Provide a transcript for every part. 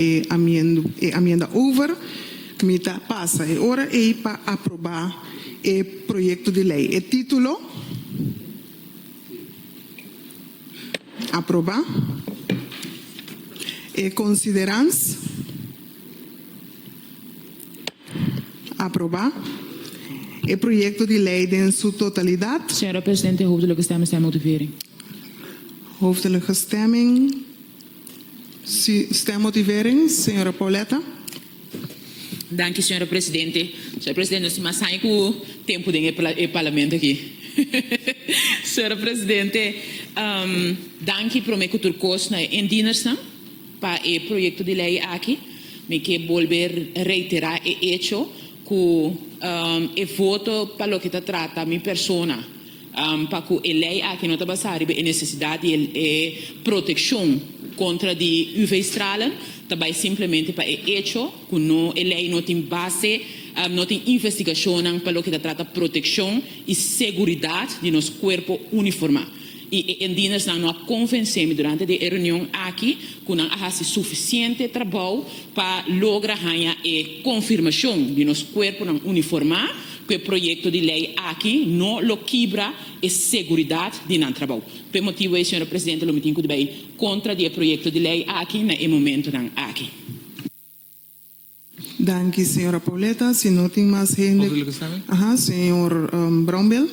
E amienda over, mi ta pasa e ora ei pa aprobá e proyekto di lei. E título, Aprobá. E konsiderans, Aprobá. E proyekto di lei den su totalidat. Señora Presidente, hoofdelijke stemming, stem motivering. Hoofdelijke stemming, Sin stemmotivering, señora Pauletta. Danki, señora presidente. Señor presidente, nos tin mas haña ku tempu den e parlamento aki. Señora presidente, danki promé ku tur kos na e indiendersnan pa e proyekto di lei aki. Mi ke bolbe reiterá e echo ku e voto pa loke ta trata mi persona, pa ku e lei aki no ta basá riba e nesesidat di e protekshon kontra di UV-stralen, ta bai simplemente pa e echo ku no e lei no tin base, no tin investigashonnan pa loke ta trata protekshon i seguridat di nos kuerpo uniformá. I e indienersnan no a konvensé mi durante di e reunion aki ku nan a hasi sufisiente trabou pa logra haña e konfirmashon di nos kuerponan uniformá, Cu e proyecto di ley aki no lo kibra e seguridad di nan trabou. P'e e motibo ei, señora presidente, lo mi tin cu di bay contra di e proyecto di ley aki na e momentonan aki. Danki, señora Pauleta. Si no tin mas hende, ahaa, señor Brownbell.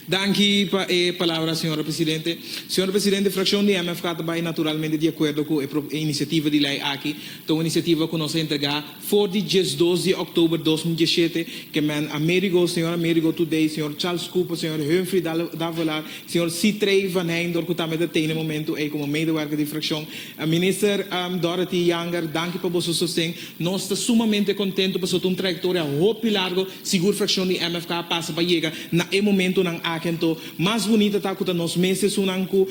Danki pa e palabra, señor presidente. Señor presidente, fraccion di MFK ta bay naturalmente di acuerdo cu e e iniciativa di ley aki. Ta un iniciativa cu nos a entrega for di diesdos di oktober dos mil dieschete, ke men Amerigo, señor Amerigo Toudey, señor Charles Cooper, señor Humphrey Davolar, señor Sitrey Van Heinder cu tambe ta tey na e momento ey como medewerker di fraccion. Minister Dorothy Yanger, danki pa boso sosten. Nos ta sumamente contento pasobra ta un trayectoria hopi largo, sigur fraccion di MFK a pasa pa yega na e momentonan aki anto. Mas bunita ta cu ta nos mes esunnan cu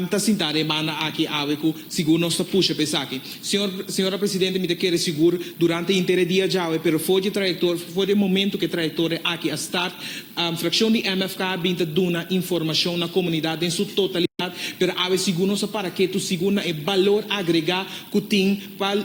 ta sinta den e banda aki awe cu sigur nos ta pusha pa esaki. Señor, Señora Presidente, mi ta kere sigur durante y inter e dia djawe, pero for dje trayector, for dje momento cu e trayectoria aki a start, fraccion di MFK a bin ta duna informacion na comunidad den su totalidad, pero awe sigur nos a para ketu sigur na e balor agrega cu tin. Pa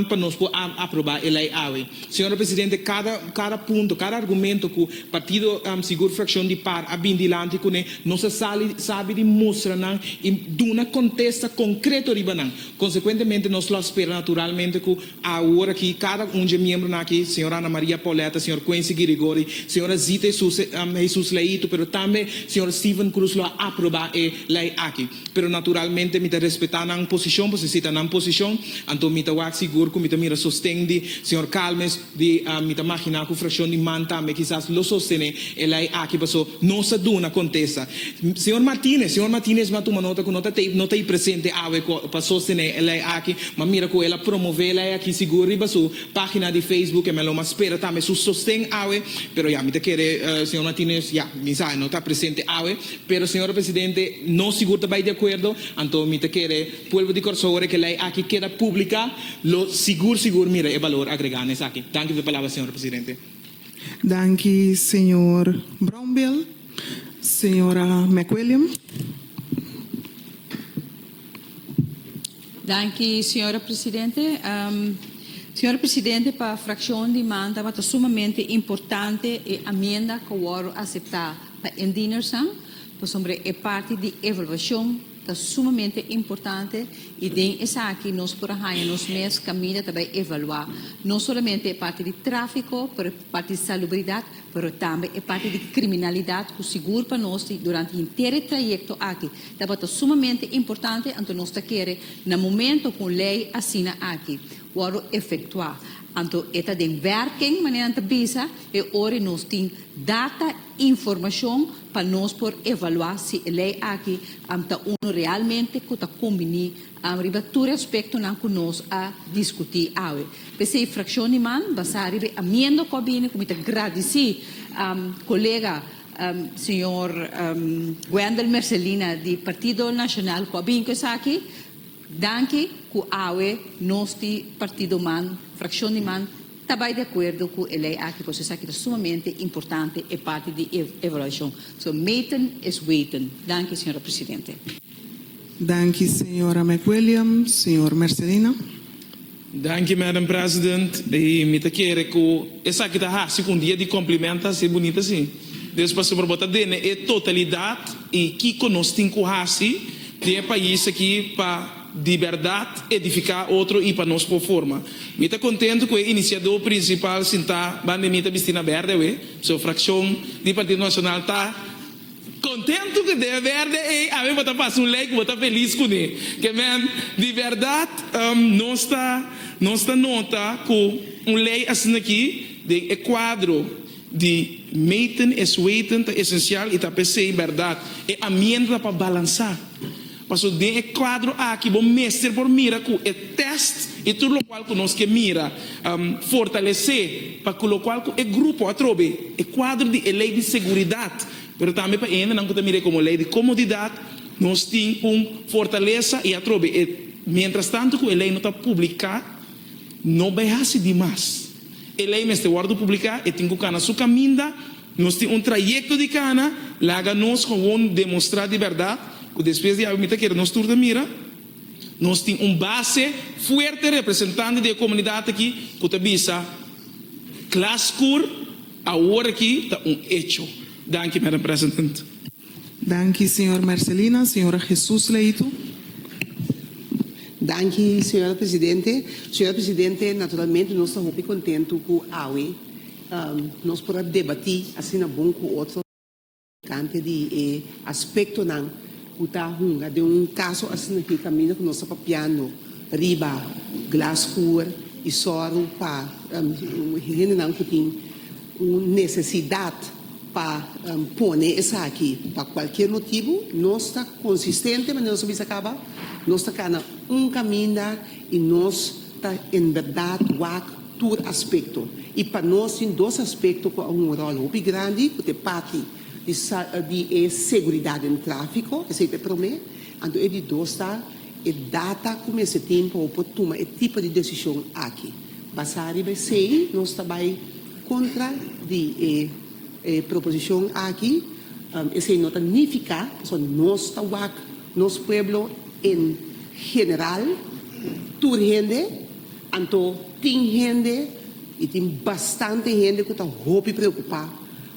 pa nos por a aproba e lei awe. Señora Presidente, cada cada punto, cada argumento cu Partido Sigur Fraccion di Par a bin dilanti cu ne, nos a sali sabi di mustra nan y duna contesta concreto riba nan. Consecuentemente nos lo a spera naturalmente cu awor aki cada un dje miembronan aki, Señora Ana Maria Pauletta, Señor Quency Girigori, Señora Zita Hesus Hesus Leito, pero tambe Señor Steven Cruz lo a aproba e lei aki, pero naturalmente mi ta respetá nan posishon, pasobra si ta nan posishon, anto mi ta wak sigur ku mi ta mira sosten di señor Calmes, di mi ta maginá ku frashon di man tambe kisas lo sostené e lei aki, paso nos a duna kontesta. Señor Martinez, señor Martinez m'a tuma nota ku no ta ta no ta ei presente awe ku pa sostené e lei aki, m'a mira ku el a promové e lei aki sigur riba su página di Facebook, e mi a lo m'a spera tambe su sosten awe, pero ya mi ta kere señor Martinez, ya mi sa e no ta presente awe. Pero señor presidente, no sigur ta bay di acuerdo, anto mi ta kere pueblo di Corsou ora ke ley aki keda publica lo sigur sigur mira e balor agrega na esaki. Danki for e palabra señor presidente. Danki señor Brownbill. Señora McWilliam. Danki señora presidente. Señor presidente pa fraccion di man tabata sumamente importante e amienda cu a wordo acepta pa indinersnan pasobra e parti di evaluacion ta sumamente importante y den esaki nos por a haya nos mes caminda ta bay evalua no solamente e parti di trafico pero e parti di salubridad Pero tambe e parti di criminalidad cu sigur pa nos di durante henter e trayecto aki tabata sumamente importante anto nos ta kere na momento cu un ley asina aki wordo efectua anto e ta den werking manera nan ta bisa e ora nos tin data informacion pa nos por evalua si e ley aki ta uno realmente cu ta cumbini Riba tur e aspektonan ku nos a diskutí awe. P'esei frakshon di man, basá riba e amiendo ku a bini, ku mi ta gradisí kolega señor Wendel Mercelina di Partido Nacional ku a bini ku esaki, danki ku awe nos di partidoman, frakshon di man, ta bai di akuerdo ku e lei aki kos esaki ta sumamente importante, e parti di e evaluashon. So meten is weten. Danki, señora presidente. Danki Señora McWilliam, Señor Mercedina. Danki Madam President, y mi ta kere cu esaki ta haci cu un dia di complimenta haci bunita así. Deus pa siempre bo ta dene e totalidad y kico nos tin cu haci den e pais aki pa di berdad edifica otro y pa nos por forma. Mi ta contento cu e iniciador principal sinta banda mi ta bisti na berde awe, so fraccion di Partido Nacional ta. Kontentu ku den wèrdè ei awe bo ta pasa un lei ku bo ta felis kuné. Ke men di wèrdat nos ta nos ta nota ku un lei asin'akí den e kuadro di meten es weten ta esensial i ta p'esei bèrdat e amienta ta pa balansá. Pasobra den e kuadro aki bo mester por mira ku e tèst i tur lokual ku nos ke mira fortalesé pa ku lokual ku e grupo atrobe e kuadro di e lei di seguridat, pero tambe pa e hendenan ku ta mir'é komo lei di komodidat, nos tin un fortalesa i atrobe e mientras tanto ku e lei no ta publiká no bai hasi di mas. E lei mester wòrdu publiká, e tin ku kana su kaminda. Nos tin un trayekto di kana, laga nos howon demostrá di bèrdat ku despues di awe mi ta kere nos tur ta mira. Nos tin un base fuerte representante di e komunidat aki ku ta bisa, Klas Kur awor aki ta un echo. Danki Madam President. Danki señor Marcelina. Señora Jesus Leitu. Danki señora Presidente. Señora Presidente, naturalmente nos ta hopi kontentu ku awe, Nos por a debatí asina bon ku otro tokante di e aspektonan ku ta hunga den un kaso asina ku e kaminda ku nos ta papiando riba Glasshoer i sòru pa hendenan ku tin un nesesidat pa pone esaki pa kualkier motibu. Nos ta konsistente manera nos a bisa kaba, nos ta kana un kaminda i nos ta en bèrdat wak. tur aspekto i pa nos tin dos aspekto ku a hunga un ròl hopi grandi ku ta e parti di di e seguridat den tráfiko, esei ta e promé. Anto e di dos ta e data ku mester tin pa bo por tuma e tipo di desishon aki. Basá riba esei nos ta bai kontra di e e proposishon aki. Esei no ta nifiká pasobra nos ta wak nos pueblo en general, tur hende. Anto tin hende, i tin bastante hende ku ta hopi preokupá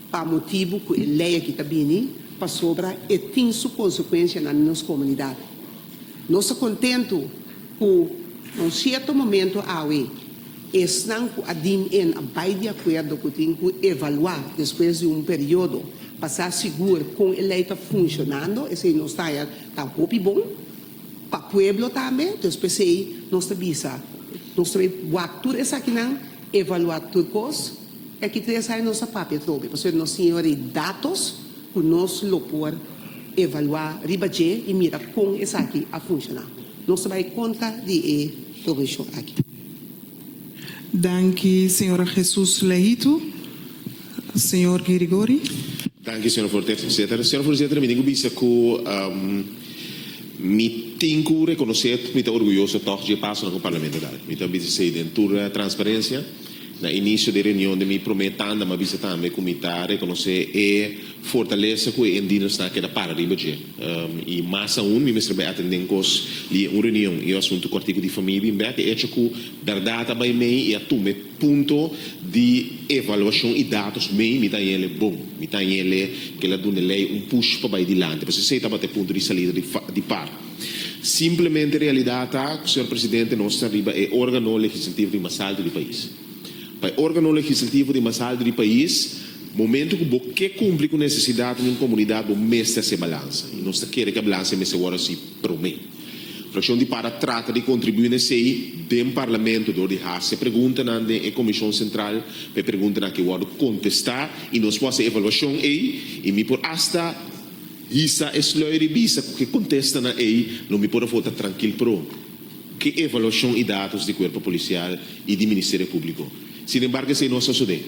pa motibu ku e lei aki ta bini, pasobra e tin su konsekuensia nan di nos komunidat. Nos ta kontentu ku na un sierto momentu awe esnan ku a din en a bai di akuerdo ku tin ku evaluá despues di un periodo pa sa sigur kon e lei ta funshonando, esei nos ta haya ta hopi bon. pa pueblo tambe, entonces p'esei nos ta bisa nos ta bay wak tur esakinan, evalua tur kos, y aki tres aña nos a papia trobe, pasobra nos tin awor e datos cu nos lo por evalua riba dje y mira con esaki a funciona. Nos ta bay contra di e prohibition aki. Danki señora Jesus Lehito, señor Girigori. Danki señor Voorzither. Señor Voorzither, mi tin cu bisa cu mi tin cu reconoce cu mi ta orguyoso tog dje pasonan cu Parlamento a dal. Mi ta bisa esey den tur transparencia. Na inicio di e reunion di mi prome tanda mi a bisa tambe cu mi ta reconoce e. Fortalesa ku e Endino sta a keda para riba dje. I mas aun mi mester bai atendé un kos di un reunion i e asuntu kòrtiku di famia i bin bèk e echo ku bèrdat a bai mei i a tuma e punto di evaluashon i datos mei. Mi ta hañ'ele bon. Mi ta hañ'ele ke la duna lei un push pa bai dilanti, pasobra esei tabata e punto di salida di par. Simplemente e realidat ta ku señor presidente nos ta riba e órgano legislativo di mas alto di pais. Pa e órgano legislativo di mas haltu di pais, momentu ku bo ke kumpli ku nesesidat di un komunidat bo mester hasi e balansa, i nos ta kere ku e balansa mester wòrdu hasi promé. Frakshon di Para trata di kontribuí na esei den Parlamento dor di hasi preguntanan den e Komishon Sentral pa e preguntanan akí wòrdu kontestá i nos por hasi e evaluashon ei i mi por asta hisa e slòi di bisa ku ke kontestanan ei lo mi por afó ta trankil pró. Ki evaluashon i datos di kuerpo polisial i di Ministerio Públiko. Sin embargo esei no a sosodé.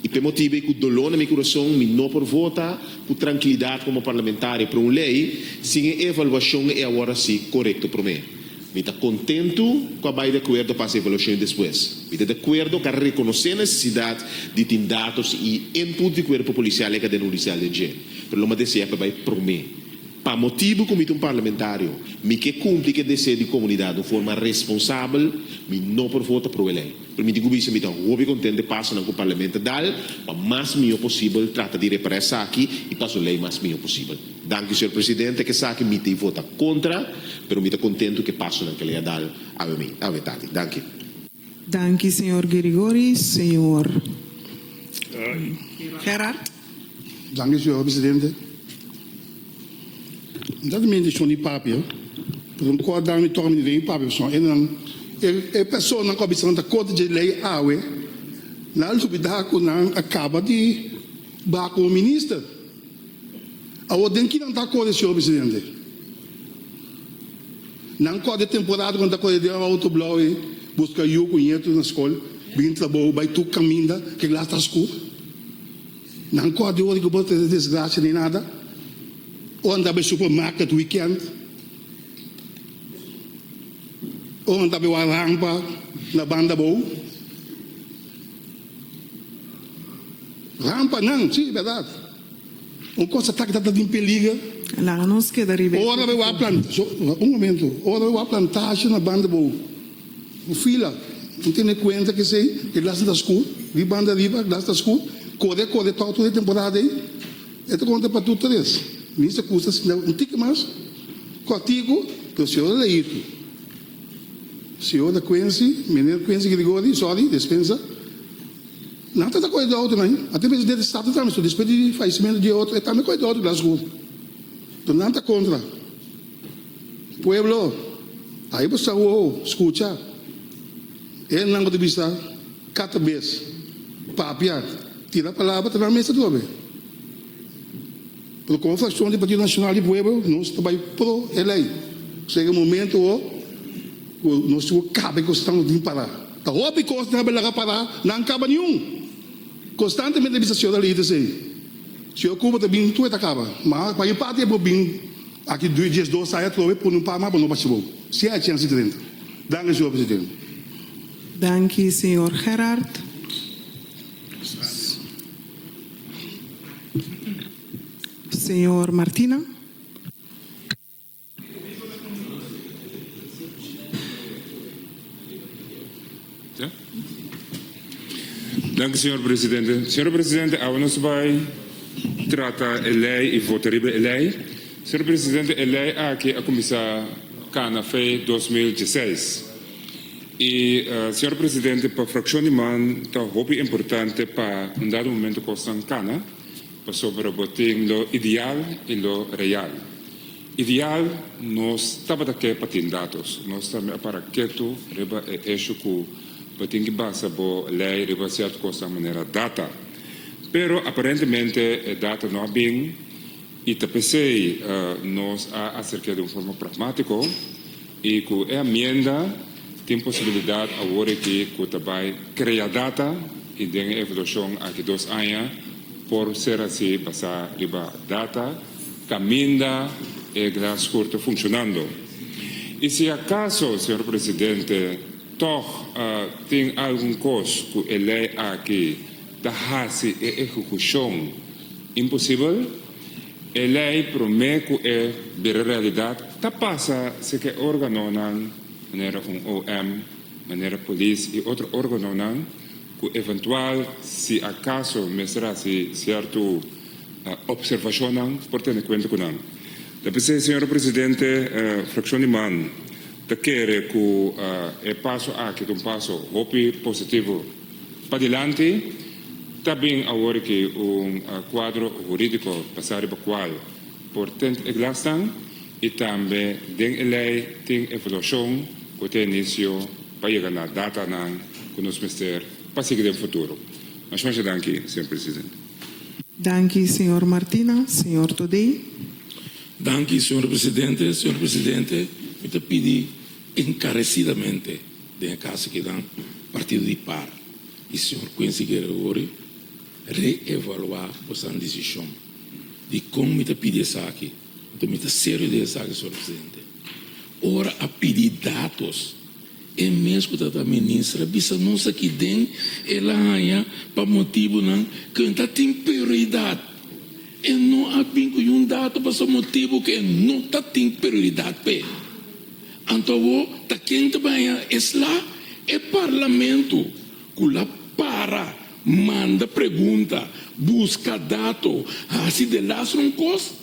I p'e motibu ei ku doló na mi kurason mi no por vota ku trankilidat komo parlamentario pro un lei sin e evaluashon ei awor así korekto promé. Mi ta kontentu ku a bai di akuerdo pas evaluashon ei despues. Mi ta di akuerdo ku a rekonosé nesesidat di tin datos i input di kuerpo polisial ei kaden hudisial den dje, pero lo mi a desea ku e bai promé. Pa motibu ku mi ta un parlamentario, mi ke kumpli ku e deseo di komunidat un forma responsabel, mi no por vota pro e lei. Pero mi tin ku bisa mi ta hopi kontent dje pasonan ku Parlemen ta dal pa mas mihó posibel trata di repará esaki i pas un lei mas mihó posibel. Danki señor Presidente, e ke esaki mi ta i vota kontra, pero mi ta kontentu ku e pasonan ku e lei a dal awe mi, awe tati. Danki. Danki señor Gerigori, señor Gerard. Danki señor presidente. Mi ta tende dishon di papia, pero mi kor dame tok mi lei papia pasobra e nan e personanan ku a bisa nan ta kontra dje lei awe nan a lubida ku nan a kaba di baha komo minister. Awor den kinan ta kore señor presidente? Nan kòt di temporada ku nan ta kore den outoblou ei buska yu ku ñetu na skol, bini trabou, bai tur kaminda ke glas ta sku. Nan kòt di ora ku por trese desgrasia ni nada o nan ta bai supermarket weekend o nan ta bai wak rampa na banda abou. Rampa nan, si, berdad. Un cosa ta kita ta tin peliger. Laga nos keda riba e puki tur. Ora bo a planta, so, un momento, ora bo a planta asha na banda bo fila, bo tene cuenta cu esey e glas no ta scur, di banda riba e glas ta scur, core, core tok tur e temporada ey, e ta con ta patu tres mil, sa custa sinda un tiki mas, cortico, pero si ora lejitu. Seo ta Quincy, Meneer Quincy Gregori, sorry, despensa. Nan ta ta koe dor tambe. A tem presidente di staten tambe so despues di fallecimiento di e otro e tambe koe dor di Blasco. Enton nan ta contra. Pueblo, ahi bo sa wowo, scucha. Elnan bo ta bisa cata bes, papia, tira palabra ta nan mester dobe. Pero komo frakshon di Partido Nacional di Pueblo nos ta bai pro e lei. Sega momento ho ku nos tin ku kaba e kosnan nos tin para. Ta hopi kosnan a bin laga para nan kaba niun. Konstantemente a bisa siora Leite esei. Siora Cuba ta bin tur e ta kaba. Ma pa mi parti e por bin aki dies dos aña atrobe pone un pama pa nos bashi bo. Siña a chensi drenta. Danki señor presidente. Danki señor Gerard. Señor Martina. Danki señor presidente. Señor presidente awe nos bai trata e lei y vota riba e lei. Señor presidente e lei aki a cuminsa cana fe dos mil dieseis. Y Señor Presidente, pa fraccion di man ta hopi importante pa un dado momento cu asnan cana pasobra bo tin lo ideal y lo real. Ideal nos tabata ke pa tin datos, nos tambe a para ketu riba e hecho cu bo tin ki basa bo ley riba cierto cosnan manera data. Pero aparentemente e data no a bin y ta pesey nos a acerke di un forma pragmatico. Y cu e amienda tin posibilidad awor aki cu ta bay crea data y den e evaluacion aki dos aña por ser haci basa riba data caminda e Glasscourt ta funcionando. Y si acaso, Señor Presidente, tog tin algun cos cu e ley aki ta haci e ehecucion imposibel, E lei promé ku e bira realidat ta pasa si ke órganonan, manera un OM, manera polis i otro órganonan ku eventual si akaso mester hasi sierto opservashonnan por tene kuenta ku nan. Ta p'esei, señora presidente, frakshon di man ta kere ku e paso aki ta un paso hopi positivo padilanti. Ta bin awor ki un kuadro hurídiko basá riba kual por tènt e glasnan i tambe den e lei tin evaluashon ku ta inisio pa yega na datanan ku nos mester pa sigui den futuro. Mas mashá danki, señor Presidente. Danki, señor Martina. Señor Todei. Danki, señor Presidente. Señor Presidente, mi ta pidi enkaresidamente den e Kasa kinan partido di par E Señor Quincy Gregory re-evaluá boso desishon di kon mi ta pidi esaki, anto mi ta serio den esaki, Señor Presidente. Ora a pidi datos, e mes ku ta ta Minister a bisa nos aki den el a haña pa motibunan ku e ta tin prioridat. E no a bin ku yun dato pasobra motibu ku e no ta tin prioridat p'e. Anto awo ta ken ta baña esla e parlamento cu la para, manda pregunta, busca dato, haci de las un cos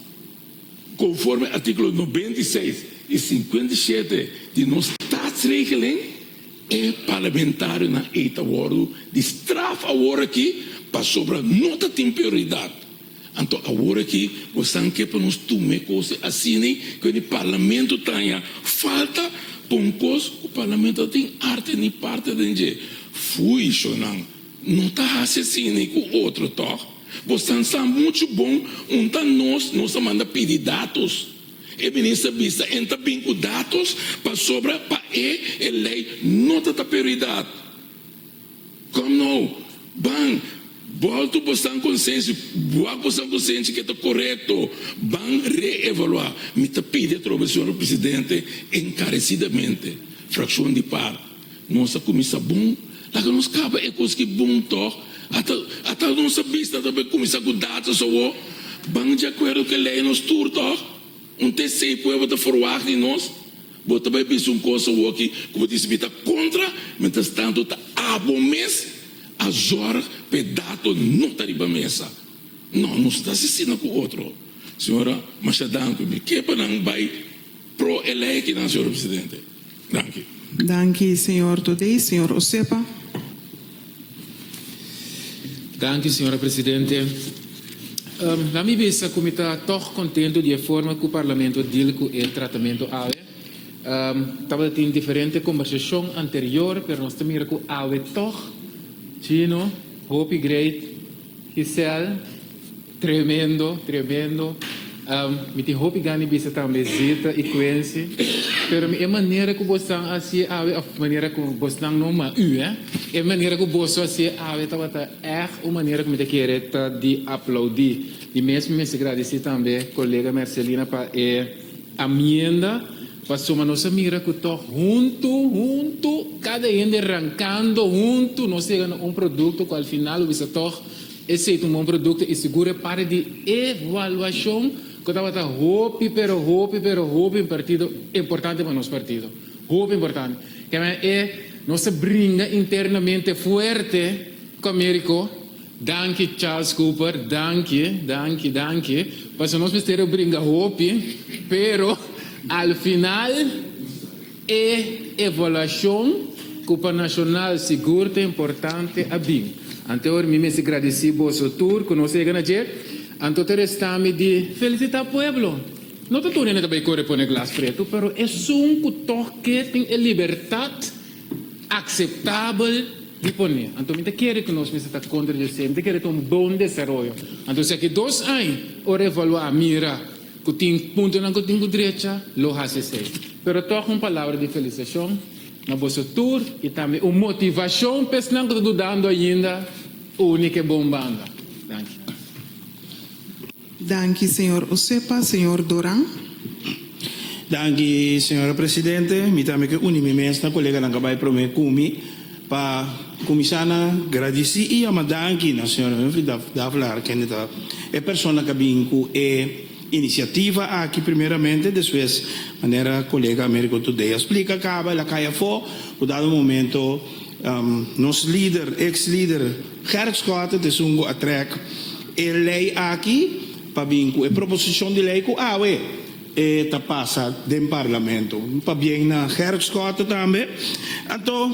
conforme articulo noventa y seis y cincuenta y siete di nos Statsregeling, e parlamentarionan ey ta wordo di straf aworaki pasobra no ta tin prioridad. Anto awor aki bo san ke pa nos tume kose asini ke di parlamento taña falta pa un kos ku parlamento ta tin arte ni parte den dje. Fuishonan no ta hasi asini ku otro tog? Bo san sa muchu bon un ta nos nos a manda pidi datos. E minister bisa en ta bin ku datos pasobra pa e e lei no ta ta periudat. Kom no? Ban, bolto bo san konsenshi, buak bo san konsenshi ke ta korekto, ban reevaluá. Mi ta pidi atrobe, señor Presidente, enkaresidamente, frakshon di par, nos a kuminsá bon, laga nos kaba e kos ki bon tòg, ata ata nos a bista atrobe kuminsá ku datas awo, ban di akuerdo ku e lei nos tur tòg, un tc pueblo ta forwagt di nos. Bo ta bai bisa un kos awoki ku bo dici mi ta kontra, mientras tanto ta abo mes a zorg pa e dato no ta riba mesa. No, nos ta haci asina ku otro. Señora, masha danki. Mi ke pa nan bai pro e ley akinan, señor Presidente. Danki. Danki, señor Todei. Señor Osepa. Danki, señora presidente. Lami bisa ku mi ta tòg kontentu di e forma ku Parlamento a dil ku e tratamentu awe. Tabata tin diferente kombersashon anterior, pero nos ta mira ku awe tòg, Chino, hopi grei, Giselle tremendo tremendo mi tin hopi gan di bisa tambe Zita y Quincy pero mi e manera cu bosnan a hacié awe of manera cu bosnan no ma u eh e manera cu boso hacié awe tabata echt un manera cu mi ta kere ta di aplaudi y mes mi mester gradici tambe colega Mercelina pa e amienda Paso ma nos a mira cu tog huntu, huntu, cada hende rancando huntu nos yega na un producto cu al final lo bisa tog e seita un bon producto y seguro e parti di evaluacion cu tabata hopi pero hopi pero hopi impartido importante pa nos partido, hopi importante. Kende e nos a bringa internamente fuerte cu Americo Danki Charles Cooper danki danki danki paso nos misterio bringa hopi pero al final e evaluacion cu pa nacional sigur ta importante a bin anto hoy mi mester gradici boso tur cu nos yega na dje anto ta restami di felicita pueblo no ta tur hende ta bay core pone glas preto pero esun cu toke tin e libertad akseptabel di poné. Anto mi ta kere ku nos mester ta kontra djosé, mi ta kere ta un bon desaroyo. Anto si aki dos aña, ora evaluá, mira ku tin puntonan ku tin ku drecha, lo hasi esei. Pero tòg un palabra di felisashon na boso tur i tambe un motivashon pa esnan ku ta dudando ainda, uni ke bon banda. Danki. Danki señor Osepa, señor Doran. Danki señora presidente, mi tambe ke uni mi mes na koleganan ka bai prome ku mi pa kuminsá na gradisí i yama danki na señor Humphrey Davelaar kende ta e persona ka bin ku e inisiativa aki primeramente, despues manera kolega Americo Today a splika kaba el a kai afó, ku dado momento nos lider, eks lider Gerrit Schotten ta esun ku a trèk. E lei aki ta bin ku e proposishon di lei ku awe e ta pasa den parlamento. Pabien na herfstkorte tambe. Anto,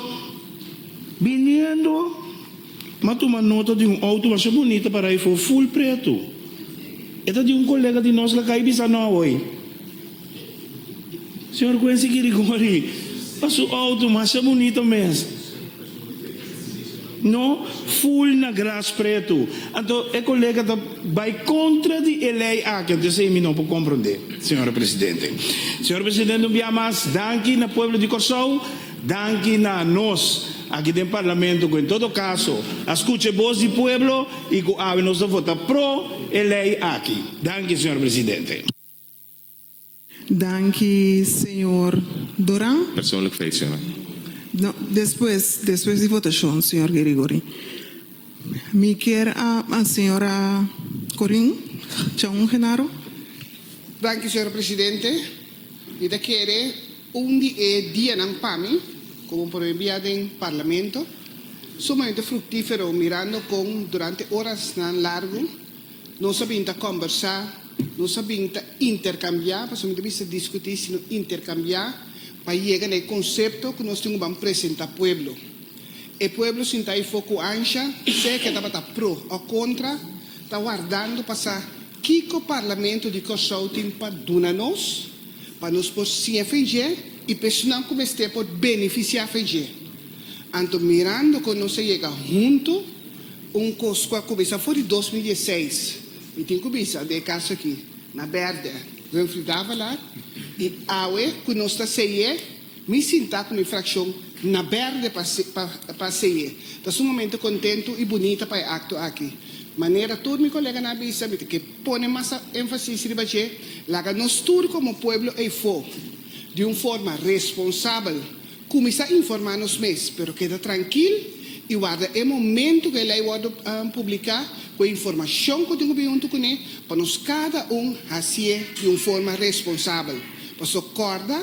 biniendo m'a tuma nota di un outo masha bunita para e for ful pretu. E ta di un kolega di nos lakay bisa nò hoy. Señor Quincy Kirigoni pa su auto masha bunito mes no full na gras preto anto e colega ta bay contra di e ley aki anto esey mi no por comprende señora presidente señor presidente un bia mas danki na pueblo di Corsou danki na nos aki den parlamento cu en todo caso a scucha e boz di pueblo y cu awe nos ta vota pro e ley aki danki señor presidente. Danki señor Doran. Persoonlijk feestje no. No, despues, despues di votashon, señor Gerigori. Mi kier a a señora Corin Chaun Genaro. Danki señor presidente. Mi ta kere un di e dianan pa mi komo prome bia den parlamento sumamente fruktifero mirando kon durante orasnan largu, Nos a bin ta kòmbersá, nos a bin ta interkambiá, pasobra mi ta bisa diskutí sino interkambiá, pa yega na e konsepto ku nos tin ku ban presentá pueblo. E pueblo sintá afor ku ansha, sea ke tabata pro òf kontra, ta wardando pa sa kiko Parlamento di Kòrsou tin pa duna nos, pa nos por siña fei dje i pesonnan ku mester por benefisiá fei dje. Anto mirando cu nos a yega hunto, un cos cu a cuminsa for di dos mil diesseis, mi tin cu bisa den e casa aki, na berde, Humphrey Davalar, y awe cu nos ta seye, mi sinta cu mi fraccion na berde pa pa seye. Ta su momento contento y bunita pa e acto aki. Manera tur mi coleganan a bisa, mi ta ke pone mas enfasis riba dje, laga nos tur como pueblo Eifo di un forma responsabel, Kuminsá informá nos mes, pero keda trankil i warda e momentu ku e lei wòrdu publiká ku e informashon ku tin ku bin huntu kuné pa nos kada un hasié di un forma responsabel. Pasó kòrda,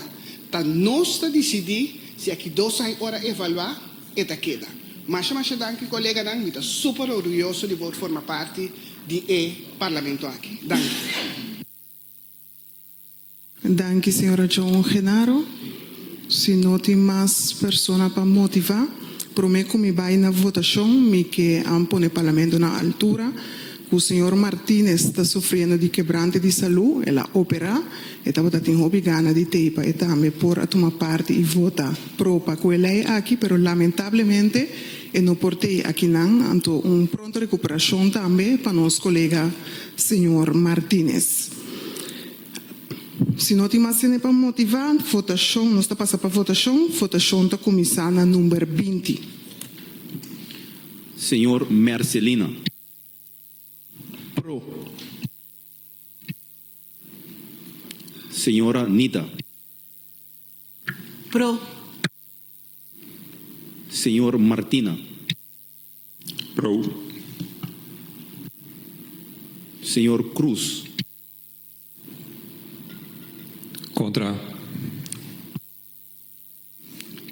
ta nos ta disidí si aki dos aña ora evaluá e ta keda. Masha masha danki koleganan, mi ta super orguyoso di por forma parti di e parlamento aki. Danki. Danki señora John Genaro. Si no tin mas persona pa motivá, promé ku mi bai na votashon mi ke an pone Parlamento na altura ku señor Martinez ta sufriendo di kebrante di salú, el a operá, e tabata tin hopi gana di t'ei pa e tambe por a tuma parti i vota pro pa ku e lei aki, pero lamentablemente e no por t'ei akinan, anto un pronto rekuperashon tambe pa nos kolega señor Martinez. Si no tin mas sene pa motivá, votashon, nos ta pasa pa votashon, votashon ta kuminsá na number binti. Señor Mercelina, pro. Señora Nita, pro. Señor Martina, pro. Señor Cruz. Contra,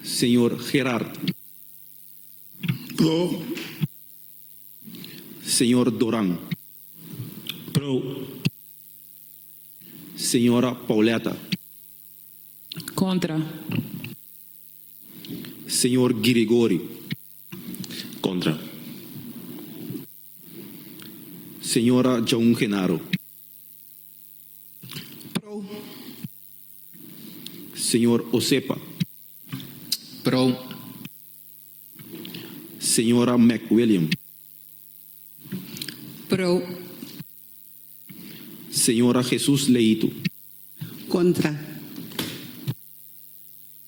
señor Gerard. Pro, señor Doran. Pro, señora Pauletta. Contra, señor Girigory. Contra. Señora Joan Genaro. Pro. Señor Osepa. Pro. Señora McWilliam. Pro. Señora Jesus Leito. Contra.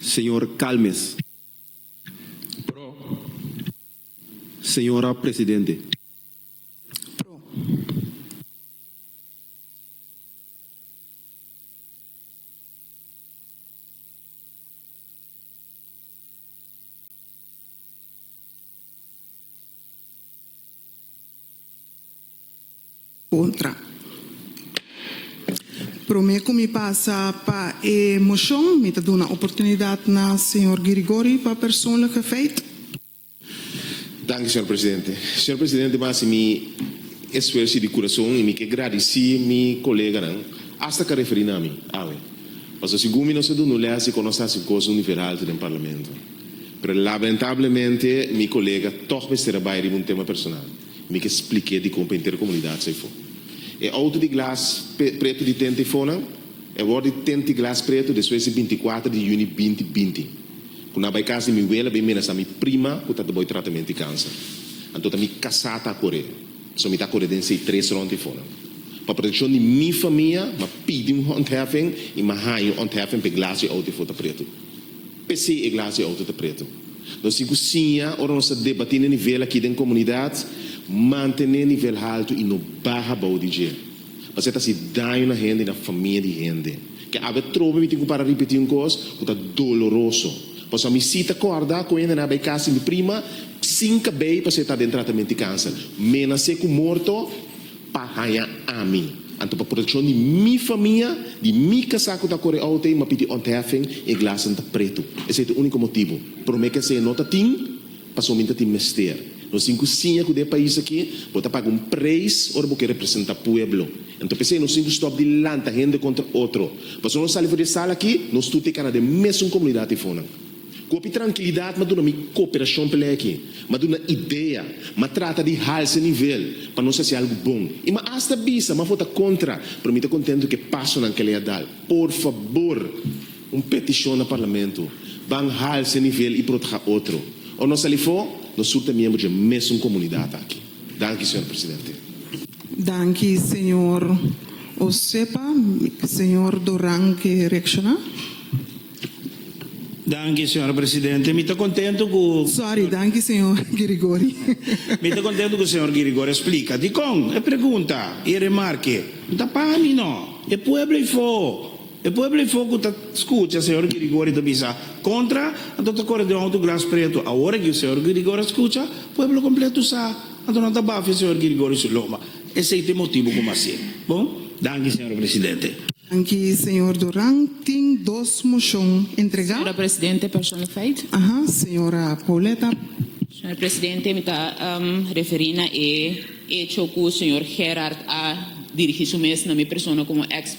Señor Calmes. Pro. Señora Presidente. kontra. Promé ku mi pasa pa e moshon mi ta duna oportunidat na señor Girigori pa personlig efeit. Danki, señor presidente. Señor presidente, mi a hasi mi esfuersi di kurason i mi ke gradisí mi koleganan, asta ka referí na mi, awe. Pasobra si Gumi nos a duna un lèsi kon nos ta hasi kos univeralter den parlamento. Pero lamentablemente mi kolega tòg mester a bai riba un tema personal. Mi ke spliké di kon pa henter e komunidat sa ifo. E outo di glas preto di tenta ifonan, e wòrdu di tenta di glas preto despues di binti kuater di yüni binti binti, ku nan a bai kas di mi wela, bai menasá mi prima ku ta tabou e tratamento di kanser. Anto ta mi kasá ta koré. So mi ta koré den esei tres rònt ifonan. Pa protekshon di mi famia, m'a pidi un ontheffen i m'a haña un ontheffen p'e glas di outo ifo ta preto. P'esei e glas di outo ta preto. Nos tin ku siña ora nos ta debatí na nivel akí den komunidat, mantené nivel haltu i no baha bou di dje, pasobra e ta hasi daño na hende i na famia di hende. Ke a be trobe mi tin ku para ripetí un kos ku ta doloroso. Paso a mi sí ta kòrda ku un hende na bai kas di mi prima sin kabei paso e ta den tratament di kanser. Menasé ku morto. pa haña ami, anto pa protekshon di mi famia, di mi kasá ku ta kore outo ei, m'a pidi ontheffen i e glasen ta pretu. Esei ta e úniko motibu. Promé ku esei no ta tin, pasobra mi ta tin mester. Nos tin ku siña ku den e pais akí bo ta paga un preis ora bo ke representá pueblo. Anto p'esei nos tin ku stòp di lanta hende kontra otro. Pasobra nos sali for di e sala akí, nos tur ta e kana den mesun komunidat eifonan. Kopi trankilidat ma duna mi koperashon p'e leki, ma duna idea, ma trata di halsa e nivel pa nos hasi algu bon i ma asta bisa ma for ta kontra, pero mi ta kontentu ku e pasonan ku elei a dal. Por fabor, un petishon na Parlamento, ban halsa e nivel i proteha otro. Ora nos sali afó, nos sur ta miembro di e mesun komunidat aki. Danki, señor presidente. Danki, señor Osepa. Señor Duran ke reakshona. Danki, señora presidente. Mi ta kontentu ku. Sòri, danki señor Girigory. Mi ta kontentu ku señor Girigory a splika dikon e pregunta i e remarke no ta pa mi nò. E pueblo eifò, e pueblo eifò ku ta skucha señor Girigory ta bisa kontra, anto ta kore den un outu gras pretu. Awor aki ku señor Girigory a skucha, pueblo kompletu sa, anto nan ta bafia señor Girigory su loma. Esei ta e motibu ku mi a hasi. Bon, danki señor presidente. Danki señor Duran. Tin dos moshon entregá. Señora presidente, persoonlijkheid. Aha, señora Pauletta. Señor presidente, mi ta referí na e echo ku señor Gerard a dirigí su mes na mi persona komo eks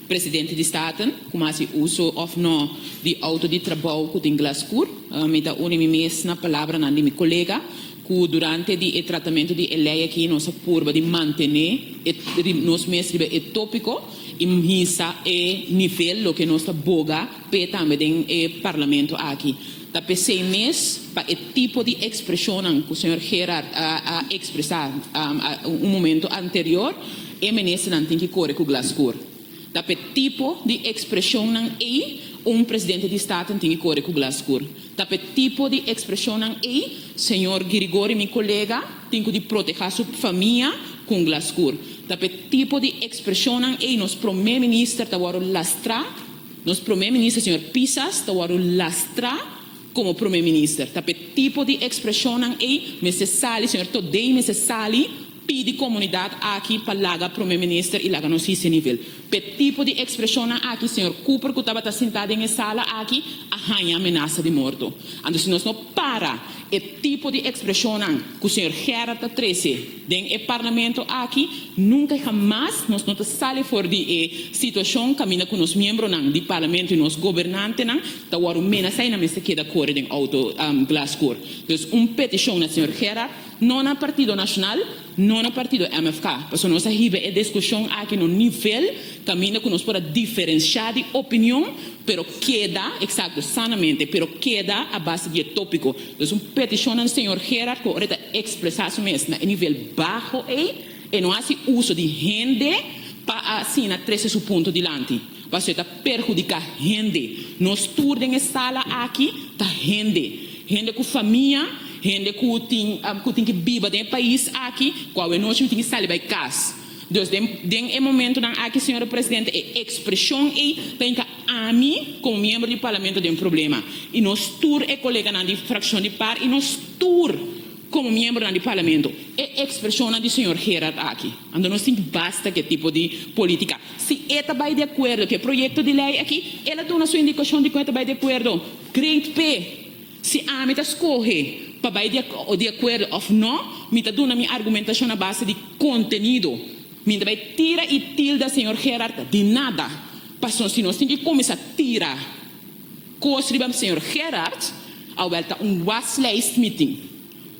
presidente di Staten ku mi a hasi uso òf nò di outo di trabou ku tin glas skur. Mi ta uni mi mes na palabranan di mi kolega. Ku durante di e tratamentu di e lei aki nos a purba di mantené nos mes riba e tópiko i hisa e nivel loke nos ta boga p'e tambe den e parlamento aki. Ta p'esei mes, pa e tipo di ekspreshonnan ku señor Gerard a ekspresá un momento anterior, e ministernan tin ki kore ku glas skur. Ta p'e tipo di ekspreshonnan ei un presidente di Staten tin ki kore ku glas skur. Ta p'e tipo di ekspreshonnan ei señor Girigori, mi kolega, tin ku di protehá su famia ku un glaskur. Ta p'e tipo di ekspreshonnan ei nos promé minister ta wòrdu lastrá, nos promé minister señor Pisas ta wòrdu lastrá komo promé minister. Ta p'e tipo di ekspreshonnan ei mester sali señor Todei mester sali, Pidi comunidad aki pa laga Prome Minister y laga nos hisi nivel. P'e tipo di expresionnan aki señor Cooper cu tabata sinta den e sala aki a haña amenasa di morto. Anto si nos no para e tipo di expresionnan cu señor Gerard ta trece den e Parlamento aki nunca y hamas nos no ta sali for di e situacion caminda cu nos miembronan di Parlamento y nos gobernantenan ta wordo menasa y nan mester keda core den auto glascour. Dus un peticion na señor Gerard. No na Partido Nacional, no na Partido MFK, pasobra nos a hiba e discusion aki na un nivel caminda cu nos por a diferencia di opinion, pero keda, exacto, sanamente, pero keda a base di e topico. Dus un peticion na Señor Gerard cu ora e ta expresa su mes na e nivel baho ey, e no haci uso di hende pa asina trece su punto dilanti. Pasobra e ta perhudiká hende. Nos tur den e sala aki ta hende. Hende ku famia, hende ku tin ku tin ke biba den e pais aki, ku awenochi no tin ke sali bai kas. Dus den den e momentunan aki, señor presidente, e ekspreshon ei ta yinka ami komo miembro di Parlamento den problema, i nos tur e koleganan di frakshon di par i nos tur komo miembronan di Parlamento. E ekspreshonnan di señor Gerard aki. Ando nos tin basta cu e tipo di politica. Si e ta bay di acuerdo cu e proyecto di ley aki, el a duna su indicacion di con e ta bay di acuerdo. Great pe. Si ami ta scoge pa bay di di acuerdo of no, mi ta duna mi argumentacion a base di contenido. Mi n'ta bay tira y tilda señor Gerard di nada. Pasobra si nos tin ki cuminsa tira cos riba señor Gerard, a wel ta un waslijstmeeting.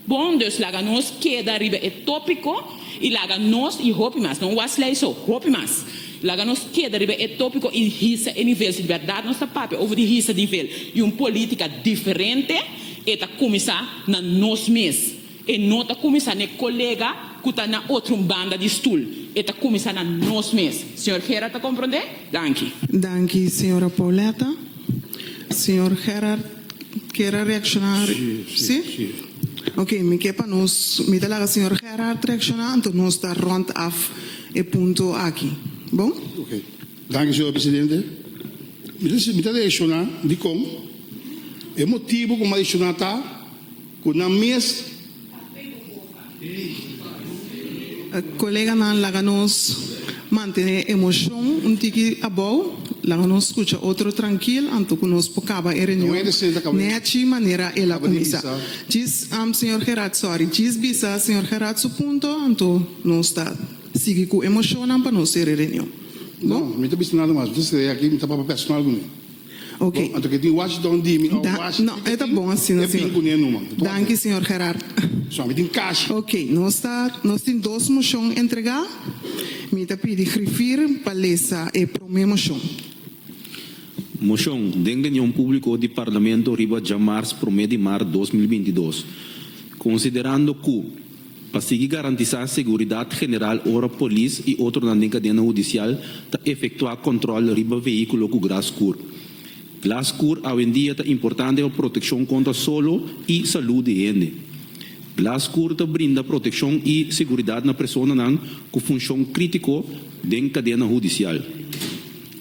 Bon dus laga nos keda riba e tópiko i laga nos i hopi mas, no was lei so, hopi mas, laga nos keda riba e tópiko i hisa e nivel. Si di bèrdat nos ta papia over di hisa nivel i un polítika diferente, e ta kuminsá na nos mes. E no ta kuminsá na e kolega ku ta na otro banda di stul, e ta kuminsá na nos mes. Señor Gerard ta komprondé? Danki. Danki, señora Pauletta. Señor Gerard. Kier a reacciona si? Ok, mi kier pa nos, mi ta laga señor Gerhard reacciona, anto nos ta rond af e punto aki. Bon? Ok, danki señor presidente. Mi ta reacciona dicon e motibo cu mi a reacciona ta cu nan mes, Koleganan laga nos mantene emoshon un tiki abou, laga nos skucha otro trankil anto ku nos por kaba e reunion nèchi manera el a kuminsá. Djis, señor Gerard, sòri, djis bisa señor Gerard su punto anto nos ta sigui ku emoshonnan pa nos ser e reunion. Bon. No, mi no ta bisa nada mas. Mi ta skree aki, mi ta papá personal ku mi. Oké. Bo, anto ke tin wash don di mi o Da, wash no, e ta bon asina, señor. E tin kuné numa. Danki, señor Gerard. So, mi tin kashi. Oké, nos ta, nos tin dos moshon entregá. Mi ta pidi grifir pa lesa e promé moshon. Moshon, den reunion públiko di Parlamento riba djamarts promé di mart dos mil binti dos, konsiderando ku, pa sigui garantisá seguridat general ora polis i otronan den kadena hudisial ta efektuá kòntròl riba vehíkulo ku glas kur. Glas kur awendia ta importante pa protekshon kontra solo i salú di hende. Glas kur ta brinda protekshon i seguridat na personanan ku funshon krítiko den kadena hudisial.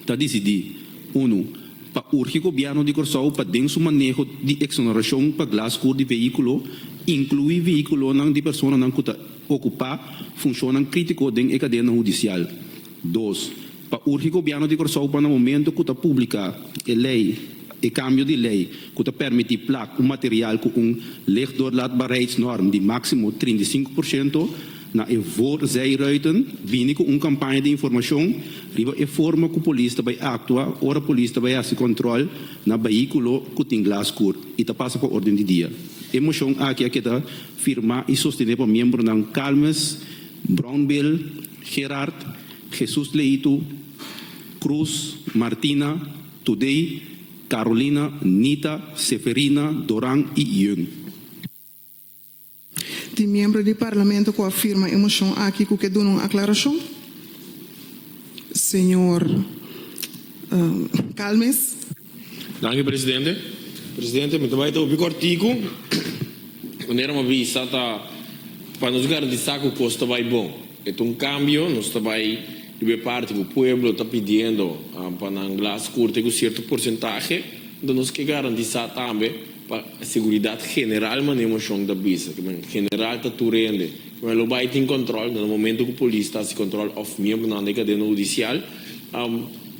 Ta disidí, unu. Ta urgi Gobièrnu di Kòrsou pa den su maneho di eksonerashon pa glas kur di vehíkulo inkluí vehíkulonan di personanan ku ta okupá funshonnan krítiko den e kadena hudisial. Dos, pa urgi Gobièrnu di Kòrsou pa na momentu ku ta publiká e lei, e kambio di lei ku ta pèrmití plak un material ku un lichtdoorlaatbaarheidsnorm di máksimo trinta i sinku por siento, Na e voor zei Ruiten bini ku un kampaña di informashon riba e forma ku polis ta bai aktua ora polis ta bai hasi kòntròl na behíkulo ku tin glas kur i ta pasa pa órden di dia. E moshon aki a keda firmá i sostené pa miembronan Calmes, Brownbill, Gerard, Jesús Leitu, Cruz, Martina, Today, Carolina, Nita, Seferina, Doran i Yun. Tin miembro di Parlamento cu a firma e mocion aki cu ke duna un aclaracion. Señor Calmes. Danki presidente. Presidente, mi ta bai ta hopi corticu. Manera mi a bisa ta pa nos garantisa cu cos ta bai bon. E ta un cambio, nos ta bai riba e parti cu pueblo ta pidiendo pa nan glas curta cu cierto porcentahe. Nos ke garantisa tambe. Pa seguridat general mane moshon ta bisa, ke men general ta tur hende, ke men lo bai tin kòntròl den e momentu ku polis ta hasi kòntròl òf miembronan den e kadena hudisial.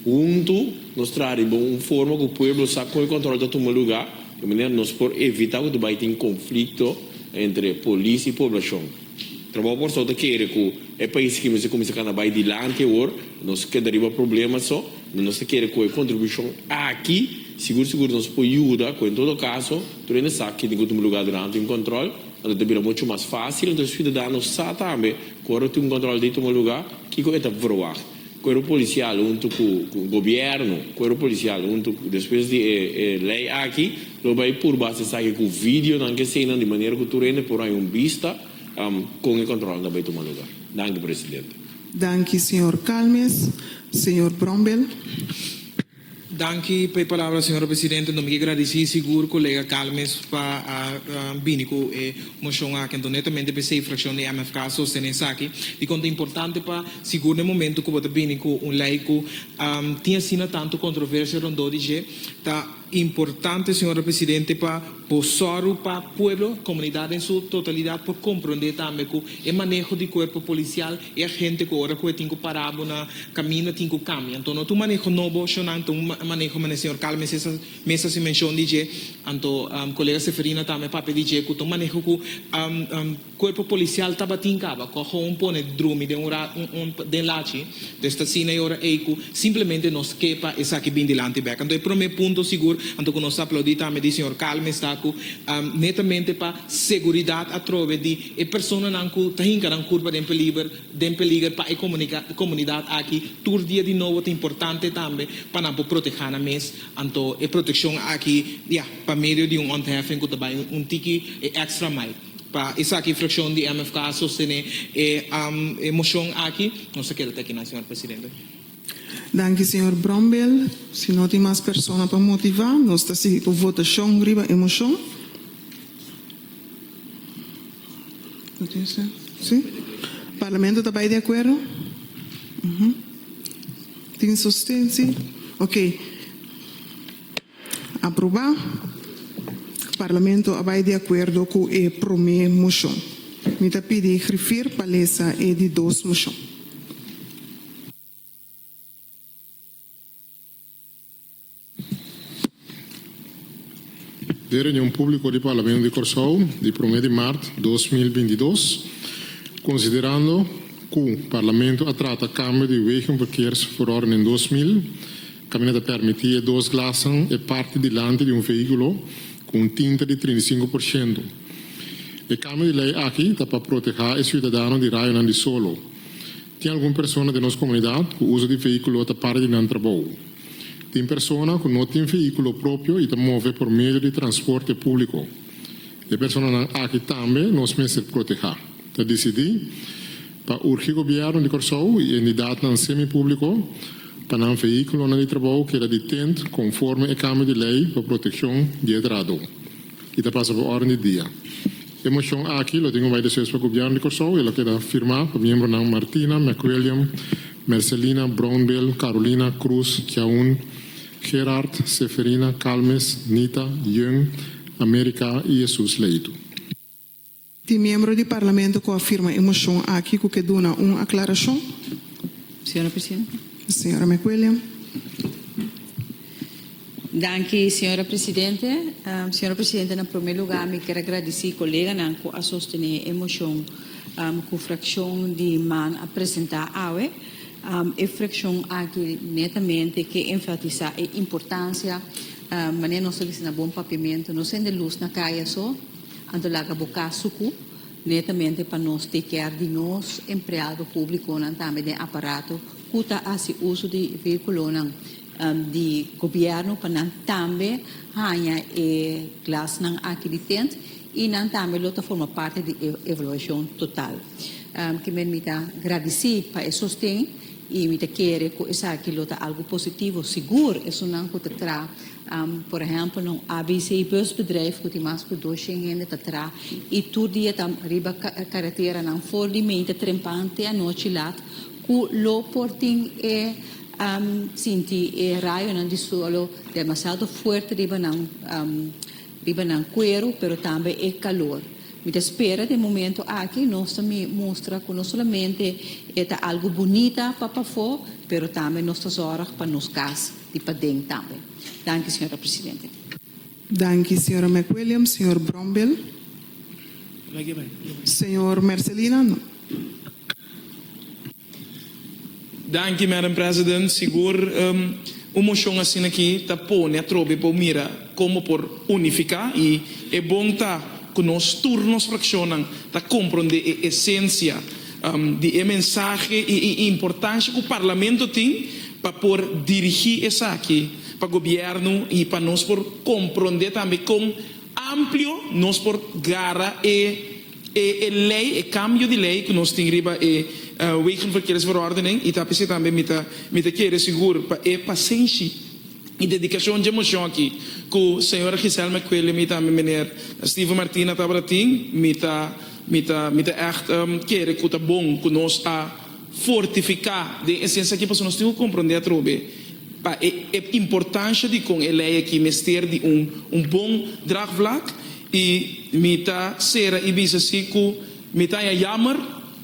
Huntu nos traha riba un forma ku pueblo sa kon e kòntròl ta tuma lugá, di manera nos por evitá ku ta bai tin konflikto entre polis i poblashon. Trabou por so ta kere ku e paisnan ke mester kuminsá kana bai dilanti awor, nos keda riba problema so. Nos ta kere cu e contribucion aki sigur sigur nos por yuda cu en todo caso tur hende sa kin tin cu tin un lugar durante un control, anto ta bira mucho mas facil. Anto e ciudadano sa tambe cu ora tin un control dintro un lugar kico e ta verwagt. Cuerpo Policial hunto cu Gobierno, Cuerpo Policial hunto cu despues di e ley aki lo bay purba haci esaki cu videonan cu eseynan di manera cu tur hende por haya un bista con e controlnan ta bay tuma lugar. Danki Presidente. Danki señor Calmes, señor Brombel. Danki pa e palabra señora presidente. Nos migi gradici sigur colega Calmes pa a bini cu e mocion aki. Enton netamente pa esey fraccion di MFK a sostene esaki di con ta importante pa sigur na e momento cu bo ta bini cu un ley cu tin asina tanto controversia rondó di dje ta Importante señora presidente pa bo sorgo pa pueblo, comunidad en su totalidad por comprende tambe cu e maneho di cuerpo policial, e agente cu ora cu e tin cu para bo na caminda tin cu cambia. Anto no ta un maneho nobo sho nan ta un maneho mane señor Carl Mesa mes haci mencion di dje, anto colega Seferina tambe papia di dje cu ta un maneho cu Cuerpo policial tabatin caba cu ahoun pone drumi den un ra un un den lachi des ta asina e ora ey cu simplemente nos ke pa esaki bin dilanti bek anto e prome punto sigur anto cu nos ta aplaudi tambe di señor Calmes ta cu netamente pa seguridad atrobe di e personanan cu ta hinca nan curpa den peliber den peliger pa e comunica comunidad aki tur dia di nobo ta importante tambe pa nan por proteha nan mes anto e proteccion aki ya pa medio di un ontheffen cu ta bay un tiki e extra mai. Pa esaki frakshon di MFK a sostené e moshon aki. Nos a keda te aki nan, señor presidente. Danki señor Brombeel. Si no tin mas persona pa motivá, nos ta sigui ku votashon riba e moshon. Parlamento ta bai di akuerdo? Tin sostensi? Oke. Aprobá. Parlamento a bai di akuerdo ku e promé moshon. Mi ta pidi Griffier pa lesa e di dos moshon. Den e reunion públiko di Parlamento di Kòrsou di promé di mart dos mil binti dos, konsiderando ku Parlamento a trata kambio di Wegenverkeersverordening dos mil Tambe ta permití e dos glasnan e parti dilanti di un vehíkulo ku un tinta di trinta i sinku por siento. E kambio di lei aki ta pa protehá e siudadano di rayonan di solo. Tin algun persona den nos komunidat ku uso di vehíkulo ta parti di nan trabou. Tin persona ku no tin vehíkulo propio i ta move por medio di transporte públiko. E personanan aki tambe nos mester protehá, ta disidí pa urgi Gobièrnu di Kòrsou i endidatnan semipúbliko, pa nan vehíkulonan di trabou keda di tent konforme e kambio di lei pa protekshon di e drado i ta pasa pa órden di dia. E moshon aki lo tin un bai despues pa Gobièrnu di Kòrsou i lo keda firmá pa miembronan Martina, McWilliam, Mercelina, Brownbill, Carolina, Cruz, Kjaun, Gerard, Seferina, Calmes, Nita, Jung, America i Jesus Leitu. Tin miembro di Parlamento cu a firma e mocion aki cu ke duna un aclaracion? Señora Presidenta. Señora McWilliam. Danki, señora Presidente. Señora Presidente, na prome lugar mi kier a gradici coleganan cu a sostene e mocion cu fraccion di man a presenta awe. E fraccion aki netamente ke enfatisa e importancia, manera nos ta bisti na bon papimento, no sende luz na caya so, Anto laga bo cas sucu, netamente pa nos take care di nos empleado publiconan tambe den aparato cu ta haci uso di vehiculonan di gobierno pa nan tambe haña e glasnan aki di tent y nan tambe lo ta forma parte di e evaluacion total. Kimen mi ta gradici pa e sosten y mi ta kere cu esaki lo ta algo positivo, sigur esunnan cu ta traha Por ehempel, un ABC bus bedrijf cu tin mas cu doshien hende ta tra y tur dia ta riba caretera nan for di mente trempan te anochi lat cu lo por tin e sinti e rayonan di solo demasiado fuerte riba nan riba nan cuero pero tambe e calor. Mi ta spera den momento aki nos ta mustra cu no solamente e ta algo bunita pa pafo pero tambe nos ta zorg pa nos cas. di paden tambe. Danki, señora presidente. Danki, señora McWilliams. Señor Brombeel. Señor Mercelina, no. Danki, Madam President. Sigur, un mocion asina aki ta pone atrobe pa mira con bo por unifica y e bon ta cu nos tur nos fraccionnan ta compronde e esencia Di e mensahe i e importansha ku Parlamento tin pa por dirigí esaki pa gobièrnu i pa nos por komprondé tambe kon amplio nos por gara e e lei, e kambio di lei ku nos tin riba e Wegenverkeersverordening i ta p'esei tambe mi ta mi ta kere sigur pa e pasenshi. Mi dedicashon dje moshon aki ku señora Giselme Quele, mi tambe mener Steven Martina tabata tin, mi ta mi ta mi ta ègt kere ku ta bon ku nos a fortifiká den e siensia aki pasobra nos tin ku komprondé atrobe pa e e importansha di kon e lei aki mester di un un bon draagvlak i mi ta sera i bisa si ku mi ta haña yammer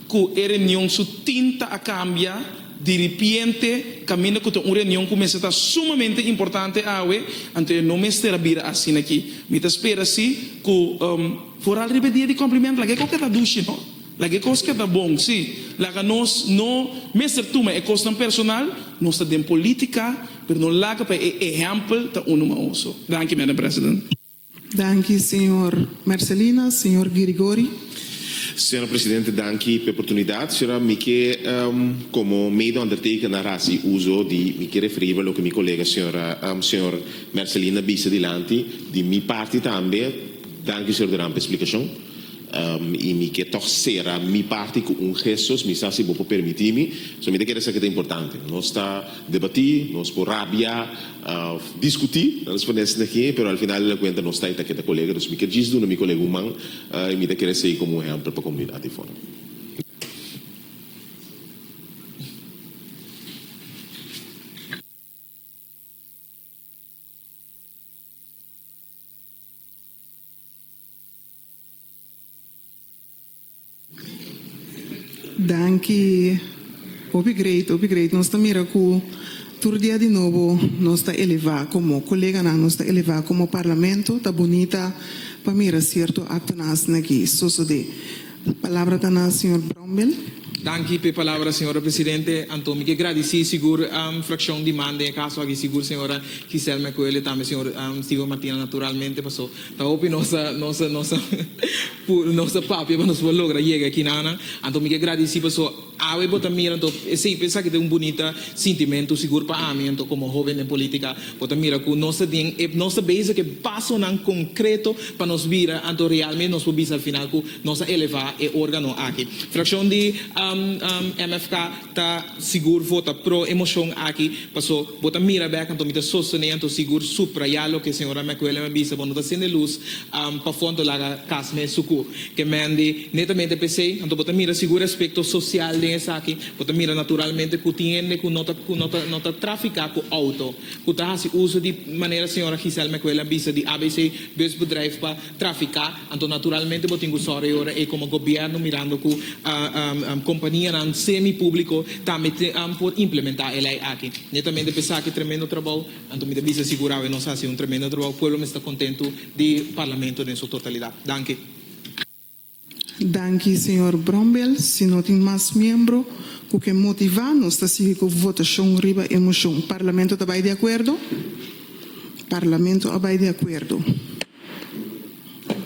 Ku e reunion su tinta a kambia diripiente kaminda ku ta un reunion ku mester ta sumamente importante awe, anto e no mester a bira asina aki. Mi ta spera si ku foral riba e dia di Kòmplimentu laga e kos ke ta dushi no, laga e kos ke ta bon si, laga nos no mester tuma e kosnan personal, nos ta den politika pero no laga pa e ehèmpel ta unu maoso. Danki Madam President. Danki señor Mercelina, señor Girigori. Señora Presidente danki p'e oportunidad. Señora mi ke komo mede ondertekenaar a hasi uzo di mi ke referí riba loke mi kolega señora señor Mercelina bisa dilanti di mi parti tambe danki señor Duran p'e splikashon i mi ke tòg sera mi parti ku un gestos mi sa si bo por permití mi so mi ta kere sa ke ta importante nos ta debatí nos por rabia Diskutí, nan responde esei na ki'e, pero al final e na kuenta nos tai ta keda kolega, dus mi kier djis duna mi kolega un man i mi ta kere esei komo un ehèmpel pa komunidat ei fora. Danki. Hopi great, hopi great. Nos ta mira cu tur dia di nobo nos ta eleva como coleganan, nos ta eleva como Parlamento. Ta bunita pa mira cierto actonan asina aki sosode. Palabra ta na señor Brownbell. Danki p'e palabra, señora Presidente. Anto mi ke gradici sigur fraccion di man den e caso aki, sigur señora Giselma Ecoelia tambe señor Steven Martina naturalmente, paso Ta hopi nos a nos a nos a puru nos a papia pa nos por logra yega aki na nan. Anto mi ke gradici paso awe bo ta mira anto esey pe esaki ta un bunita sintimentu sigur pa ami anto como hoven den politica bo ta mira cu nos ta den e nos ta bezig cu e pasonan concreto pa nos bira anto realmente nos por bisa al final cu nos a eleva e organo aki. Fraccion di MFK. Ta sigur vota pro e moshon aki paso bo ta mira bek anto mi ta sostené anto sigur suprayá loke señora McWilliam a bisa bo no ta sende luz pafó anto laga cas me sucu ke mende netamente pesey anto bo ta mira sigur e aspecto social den esaki bo ta mira naturalmente cu tin hende cu no ta cu no ta no ta trafica cu auto cu ta haci uso di manera señora Giselle McWilliam a bisa di abc bus bedrijf pa trafiká, anto naturalmente bo tin ku sòri e ora ei komo gobièrnu mirando ku kompanianan semi públiko tambe por implementá e lei aki. Netamente p'e esaki tremendo trabou, anto mi ta bisa sigur awe nos a hasi un tremendo trabou, pueblo mester kontentu di Parlamento den su totalidat. Danki. Danki señor Brombell, si no tin mas miembro cu ke motiva nos ta sigui cu votacion riba e mocion. Parlamento ta bay di acuerdo? Parlamento a bay di acuerdo.